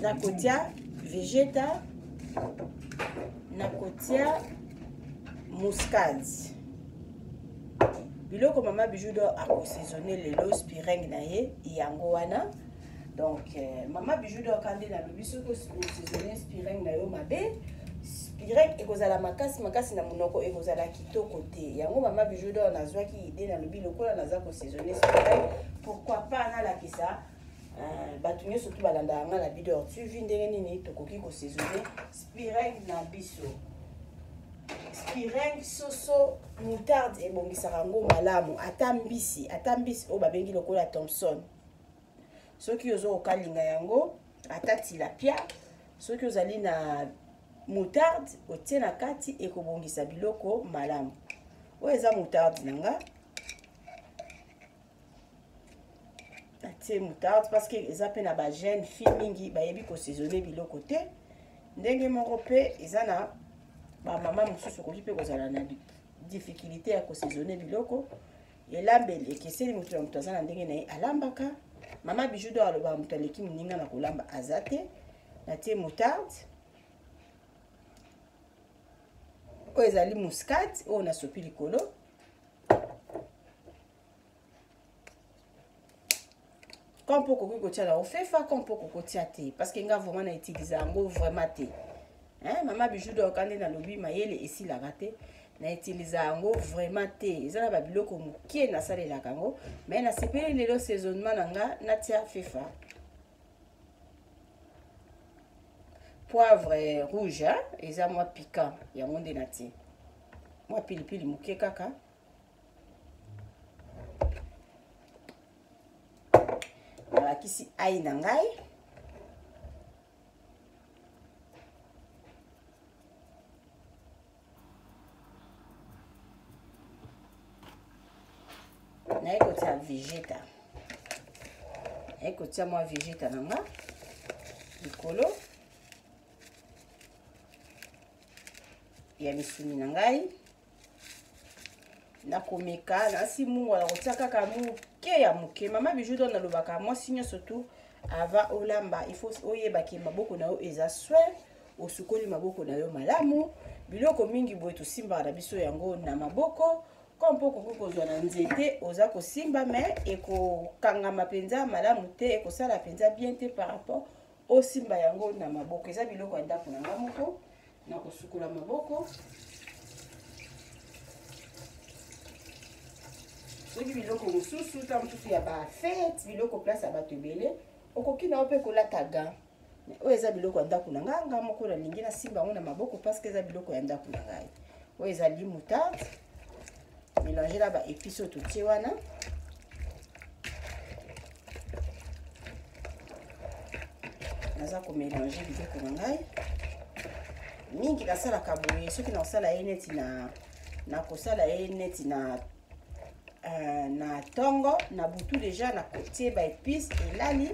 nakotia vegeta nakotia muscade biloko mama bijou do akosaisonne lelo spiring na ye yango wana donc euh, mama bijou do aka nde nalobi soki osaisonne spiring na yo mabe spiring ekozala makasi makasi na monoko ekozala kitoko te yango mama bijou do nazwaki ide nalobi lokola naza kosaisonne spiring pourquoi pas nalakisa Ah, bato nyonso mpe balandaka ngai na bidor tv ndenge nini tokoki kosaisone spireng na biso spireng soso moutarde ebongisaka yango malamu ata mbisi ata mbisi oyo babengi lokola thomson soki ozo kokalinga yango ata tilapia soki ozali na moutarde otie na kati ekobongisa biloko malamu oyo eza moutarde na nga atie moutarde parce que eza mpe na bajeune fille mingi bayebi kosaisonne biloko te ndenge moko mpe eza na bamama mosusu okoki mpe kozala na difficulté ya kosaisonne biloko elambeli ekeseni moto na moto aza na ndenge na ye alambaka mama bijou do alobaka moto aleki moninga na kolamba aza te natie moutarde oyo ezali muscade oyo nasopi likolo quand mpo okoki kotia na ofefa quand mpo okoki kotia te parce que nga vraiment na utilise yango vraiment te hein? mama bijou doka nde nalobi mayele esilaka te na utilise yango vraiment te eza na babiloko moke nasalelaka yango mais nasepeli lelo saisonnement na nga natia fefa poivre rouge hein? eza mwa piquant yango nde natie mwa pilipili moke kaka nalakisi ai na ngai naye kotia vegeta naye kotia mwa vegeta na nga likolo ya misuni na ngai nakomeka nasi mungo nakotia kaka moke ya moke mama bijou don nalobaka mwasi nyonso tu ava olamba il faut oyeba ke maboko na yo eza soin osukoli maboko na yo malamu biloko mingi boye tosimbaka na biso yango na maboko ko mpo okoki kozwa na nzete oza kosimba me ekokangama mpenza malamu te ekosala mpenza bien te par rapport osimba yango na maboko eza biloko ya ndako na nga moko na kosukola maboko soki biloko mosusu ntango mosusu ya bafete biloko place ya bato ebele okoki na yo mpe kolata ga oyo eza biloko ya ndako na ngai nga moko nalingi nasimba yango na maboko parceke eza biloko ya ndako na ngai oyo ezali moutarde mélanger na ba épices oyo totie wana naza komélange biloko na ngai mingi nasalaka boye soki nakosala ye neti na nakosala ye neti na uh, na ntongo na butu deja nakotie baepice elali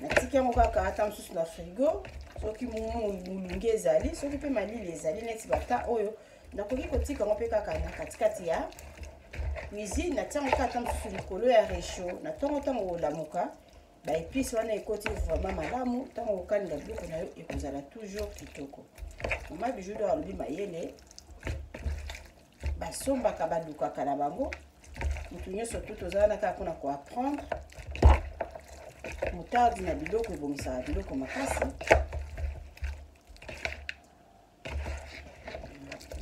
natiki yango kaka ata mosusu na frigo soki molunge ezali soki mpe malili ezali neti bata oyo oh, nakoki kotika yango mpe kaka na katikati ya cuisine natia yango kaka mosusu likolo ya recho na ntongo ntango olamuka baepice wana ekoti vraiment malamu ntango okokalinga biloko na yo ekozala toujours kitoko mama bijudo alobi mayele basombaka balukaka na bango motu nyonso tu toza wana kaka mpona koapprendre motardi na biloko ebongisaka biloko makasi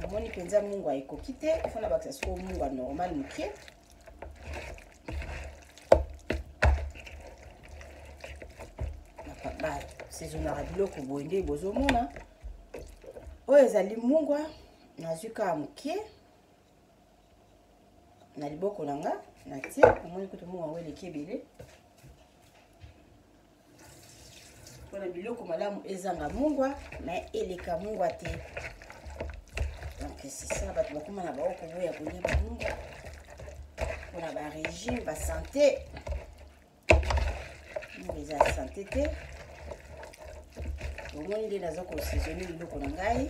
namoni mpenza mungwa ekoki te ifo na bakisa soko mungwa normal moke basezonaka biloko boye nde bozomona oyo ezali mungwa nazwi kaka moke na liboko na nga natie omoni kutu mungwa yango eleki ebele mpona biloko malamu ezanga mungwa me eleka mungwa te donc sisa bato bakoma na bango koboya kolia bamungwa mpona barégime basante mungwa eza ya sante te bomoni nde naza kosaisonne biloko na ngai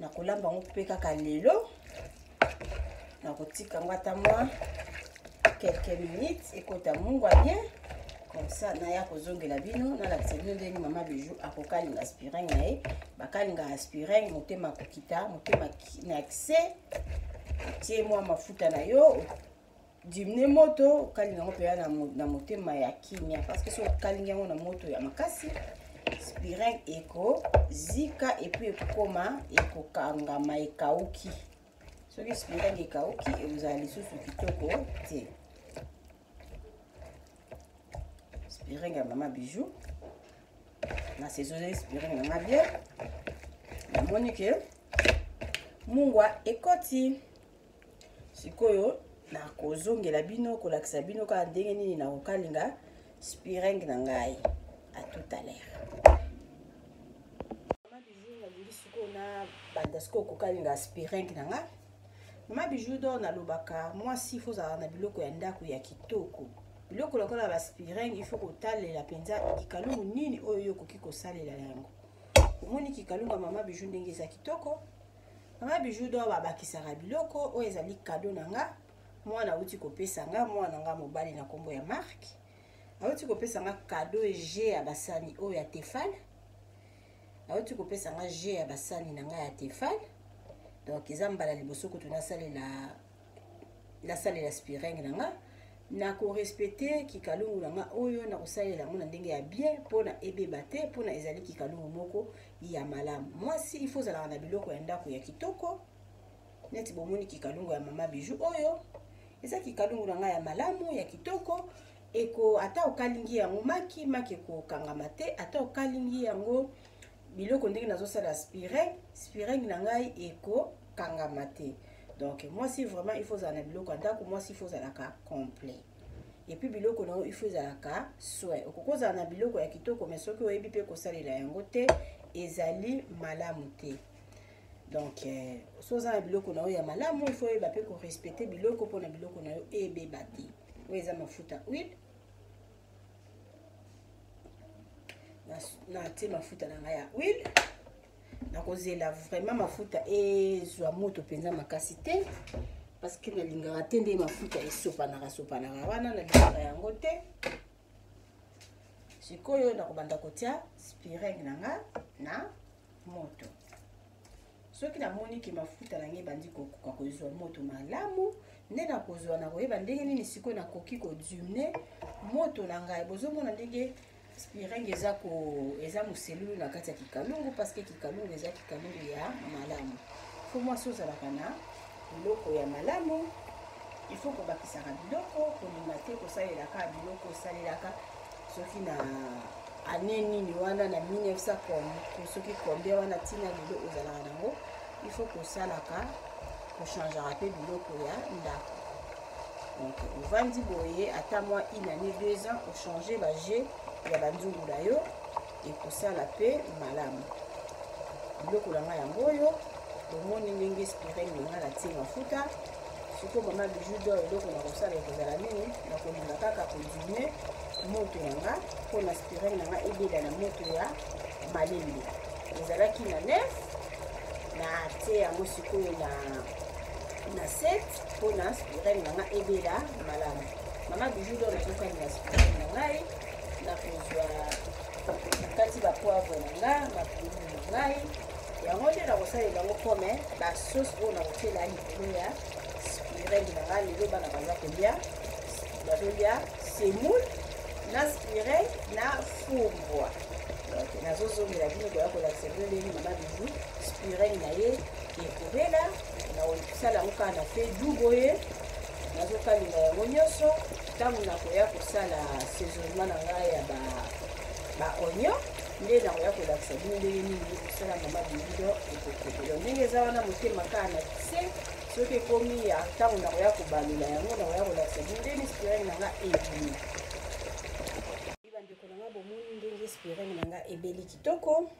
nakolamba yango mpe kaka lelo nakotika yango ata mwa quelques minutes ekota mungwa bien comme ça naya kozongela bino nalakisa bino ndenge mama bijou akokalinga aspirin na ye bakalinga aspirin motema kokita motema na kise otie mwa mafuta na yo dimne moto okalinga yango mpenza na motema ya kimia parceke soki okalingi yango na moto ya makasi spirin ekozika epuis ekokoma ekokangama ekauki soki spirin ekauki ekozala lisusu kitoko te spirin ya mama bijou na saisonne spirin na nga bien namoni ke mungwa ekoti sikoyo nakozongela bino kolakisa bino kaka ndenge nini nakokalinga spiring na ngai à tout à l'heure sikoyo nabanda sikoyo kokalinga spiring na ngai mama bijou dor nalobaka mwasi ifo ozala na biloko ya ndako ya kitoko biloko lokola baspiring ifo kotalela mpenza kikalungu nini oyo yo okoki kosalela yango omoni kikalungu ya mama bijou ndenge eza kitoko mama bijou do babakisaka biloko oyo ezali kado na nga mwana auti kopesa nga mwana nga mobali na nkombo ya mark auti kopesa nga kado je ya basani oyo ya tefale auti kopesa nga je ya basani na nga ya tefale donc eza mbala liboso kutu nasalela nasalela spiring na nga na korespecte kikalungu na nga oyo na kosalela yango na ndenge ya bien mpo na ebeba te mpo na ezali kikalungu moko ya malamu mwasi ifo ozalaka na biloko ya ndako ya kitoko neti bomoni kikalungu ya mama biju oyo eza kikalungu na ngai ya malamu ya kitoko eko ata okalingi yango maki maki ekokangama te ata okalingi yango biloko ndenge nazosala spireng spireng na ngai eko kangama te donc mwasi vraiment il faut ozala na biloko ya ndako mwasi il faut ozalaka complet epuis biloko na yo il faut ezalaka soin okoki ozala na biloko ya kitoko mai soki oyebi mpe kosalela yango te ezali malamu te donc eh, so oza na biloko na yo ya malamu il faut oyeba mpe korespecte biloko mpo na biloko na yo ebeba te oyo eza mafuta huile natie mafuta na ngai ya huile nakozela vraiment mafuta ezwa moto mpenza makasi te parce que nalingaka te nde mafuta esopanaka sopanaka wana nalingaka yango te sikoyo nakobanda kotya spiring na nga na moto soki namoni ke mafuta na ngai ebandi kokoka kozwa moto malamu nde nakozwa nakoyeba ndenge nini sikoyo nakoki kodimne moto na ngai bozomona ndenge Spiring eza ko eza muselulu na kati ya kikalungu parce que kikalungu eza kikalungu ya malamu. Faut mwasi ozalaka na biloko ya malamu il faut kobakisaka biloko kolinga te kosalelaka biloko osalelaka soki na ane nini wana na 1900 soki combien wana ntina lelo ozalaka nango il faut kosalaka kochangeaka mpe biloko ya ndako donc ovandi boye ata mwa une année deux ans ochange baje ya banzungu na yo ekosala mpe malamu biloko na ngai yango oyo bomoni ndenge spirel na ngai natie mafuta sikoyo mama biju do eloko na kosala ekozala nini nakolinga kaka kodimie moto na nga mpo na spirel na nga ebela na moto ya malembe ezalaki na nef na tie yango sikoyo na na 7 mpona spirale na ngai ebela malamu mama bijou do nazokani ya spirale na ngai nakozwa nakati bapoivre na nga makululu na ngai yango nde nakosalela yango kome basosi oyo nakotyela likolo ya spirale na ngai lelo bana baza kolya bazolia semoule na spire na fumbwa nazozongela bino koya kolakisa bino ndenge mama bizu spirene na ye ekobela na sala yango kaka na fedu boye nazokalinga yango nyonso ntango nakoya kosala saisonnement na ngai ya baonio nde nakoya kolakisa bino ndenge nini kosala mama bilido ekokokelo ndenge eza wana motema kaka na se soki ekomi ya ntango nakoya kobalula yango nakoya kolakisa bino ndenge spirene na nga ebimi bandeko na nga bomoni ndenge spirene na nga ebeli kitoko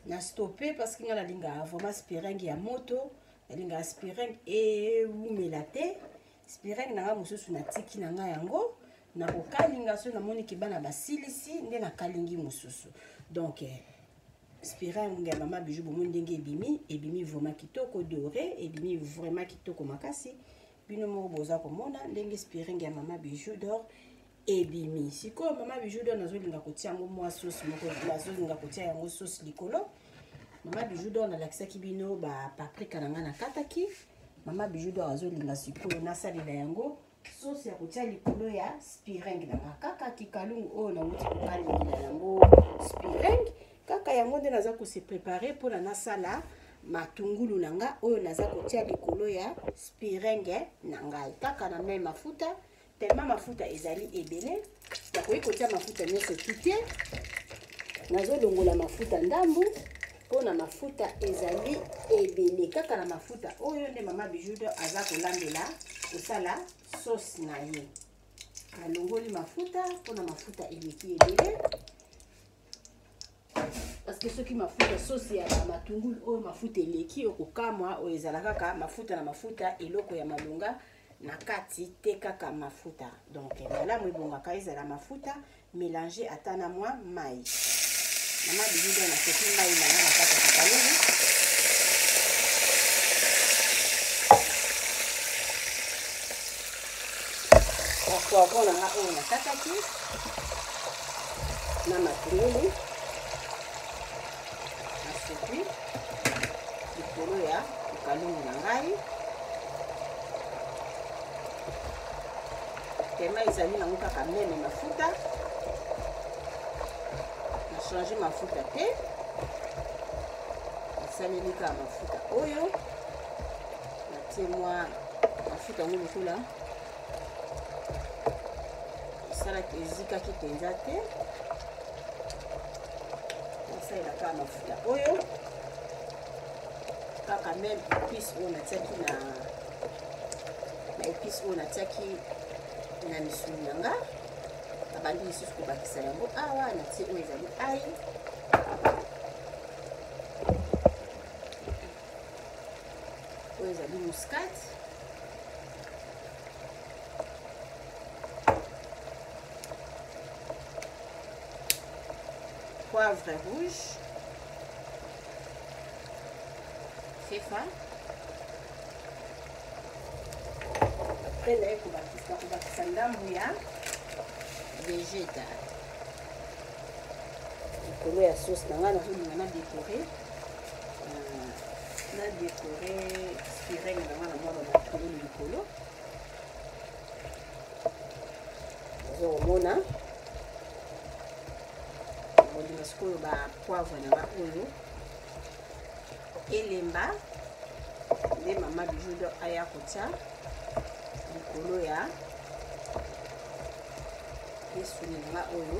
na stope parce que nga nalingaka vraiment spirene ya moto nalingaka spiring ewumela te spiring na ngai mosusu natiki na ngai yango nakokalinga soki namoni ke bana basilisi nde nakalingi mosusu donc eh, spiring ya mama bijou bomoni ndenge ebimi ebimi vraimen kitoko dore ebimi vraimen kitoko makasi bino moko boza komona ndenge spiring ya mama bijou dor ebimi sikoyo mama bijou don azolinga kotia yango mwa sauce moko azolinga kotia yango sauce likolo mama bijou don alakisaki bino bapaprika na ngai nakataki mama bijou don azolinga sikoyo nasalela yango sauce ya kotia likolo ya spiring na nga kaka kikalungu oyo nauti kokalela yango spiring kaka yango nde naza kose prepare mpona nasala matungulu na nga oyo naza kotia likolo ya spiringe na ngai kaka na mai mafuta tellement mafuta ezali ebele nakoki kotia mafuta nyonso tute nazolongola mafuta ndambu mpo na mafuta ezali ebele kaka na mafuta oyo nde mama bijudo aza kolambela kosala sauce na ye nalongoli mafuta mpo na mafuta eleki ebele parceke soki mafuta sosi ya bamatungulu oyo mafuta eleki okokamwa oyo ezala kaka mafuta na mafuta eloko ya malonga na kati te kaka mafuta donc malamu ebongaka ezala mafuta mélange ata na mwa mai na mabilindo nasoki mai na nga na kati ya kakalulu poivron na nga oyo nakataki na matungulu nasuki likolo ya likalungu na ngai pema ezali nango kaka meme mafuta na change mafuta te nasaleli kaka mafuta oyo natie mwa mafuta yango lokola esalaki ezikaki mpenza te nasalela kaka mafuta oyo kaka meme epice oyo natiaki na na epice oyo natiaki na misuni na nga nabandi lisusu kobakisa yango awa natie oyo ezali ai oyo ezali muscade poivre rouge c'est fin mpe naye kobakisa kobakisa ndambu ya vegeta likolo ya sauce na ngai nazolinga na dekore na dekore sirene na nga na mwana makolo likolo ozo komona kondima sikoyo ba poivre na nga oyo elemba nde mama bijudo aya kotya likolo ya esuni na nga oyo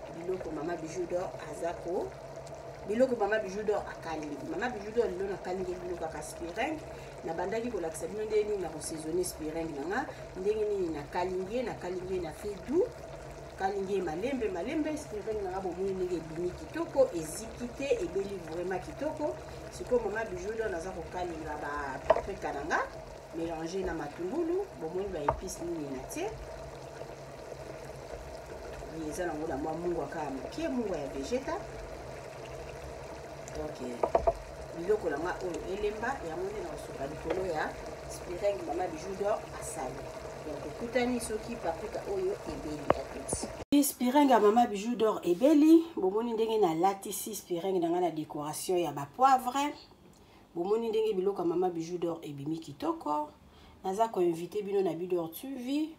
biloko mama bijou dor aza ko biloko mama bijou dor akalingi mama bijou dor lelo nakalingi biloko aka spiring nabandaki kolakisa bino ndenge nini nakosaisonne spiring na nga ndenge nini nakalingi ye nakalingi ye na fe doux kalingi ye malembe malembe spiring na nga bomoni ndenge ebimi kitoko eziki te ebeli vraiment kitoko sikoyo mama bijou dor naza kokalinga ba paprika na nga mélange na matungulu bomoni ba épice nini na tie Oui, eza nango na mwa mungwa kaka moke mungwa ya vegeta donc biloko na nga oyo elemba yango nde nakosuka likolo ya spireng mama bijou dor asali donc ekutani soki pakuta oyo ebeli ya toti spireng ya mama bijou dor ebeli bomoni ndenge nalatisi spireng na nga na décoration ya bapoivre bomoni ndenge biloko ya mama bijou dor ebimi kitoko naza koinvite bino na bidor tv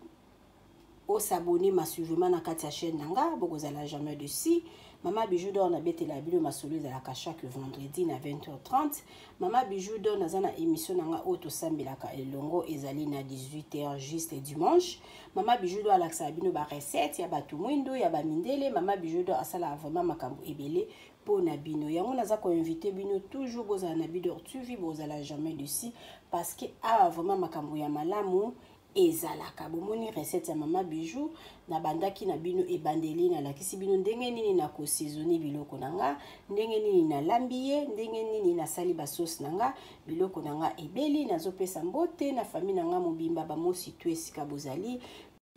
o s'abonner massivement na kati ya chaîne na nga bokozala jamais de si mama bijou dor nabetela bino masolo ezalaka chaque vendredi na 20h30 mama bijou dor naza na émission na nga oyo tosambelaka elongo ezali na 18h juste dimanche mama bijou dor alakisaka bino barecette ya bato mwindo ya bamindele mama bijou dor asalaka vraiment makambo ebele mpo na bino yango naza koinvite bino toujours bozala na bidor tv bozala jamais de si parce que awa vraiment makambo ya malamu ezalaka bomoni recette ya mama bijou nabandaki na bino ebandeli nalakisi bino ndenge nini nakosezoni biloko na nga ndenge nini nalambi ye ndenge nini nasali basauce na nga biloko na nga ebeli nazopesa mbote na fami na nga mobimba bamosi tu esika bozali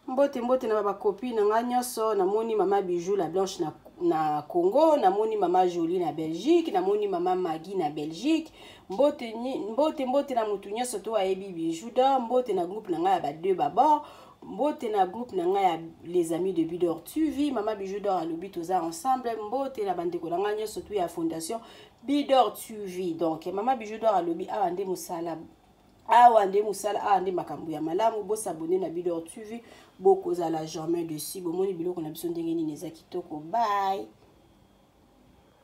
mbote mbote na babakopi na nga nyonso namoni mama bijou la blanche na, na congo namoni mama jolie na belgique namoni mama magi na belgique mbote mbote mbote na motu nyonso to ayebi bijou d'or mbote na groupe na ngai ya ba deux babord mbote na groupe na ngai ya les amis de bidor tv mama bijou d'or alobi toza ensemble mbote na bandeko na ngai nyonso to ya fondation bidor tv donc mama bijou d'or alobi awa nde mosala awa nde mosala awa nde makambo ya malamu bosabone na bidor tv bokozala jamais dessus bomoni biloko na biso ndenge nini eza kitoko bye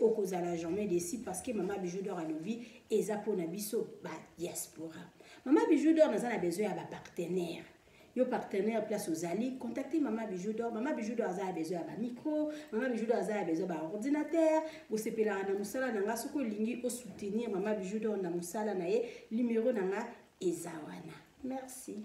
okozala jamais desi parce que mama bijou d'or alobi eza mpo na biso ba diaspora mama bijou d'or naza na besoin ya bapartenaire yo partenaire place ozali contacte mama bijou d'or mama bijou d'or aza ya besoin ya bamicro mama bijou d'or aza ya besoin ya baordinateur bosepelaka na mosala na nga soki olingi osoutenir mama bijou d'or na mosala na ye numero na nga eza wana merci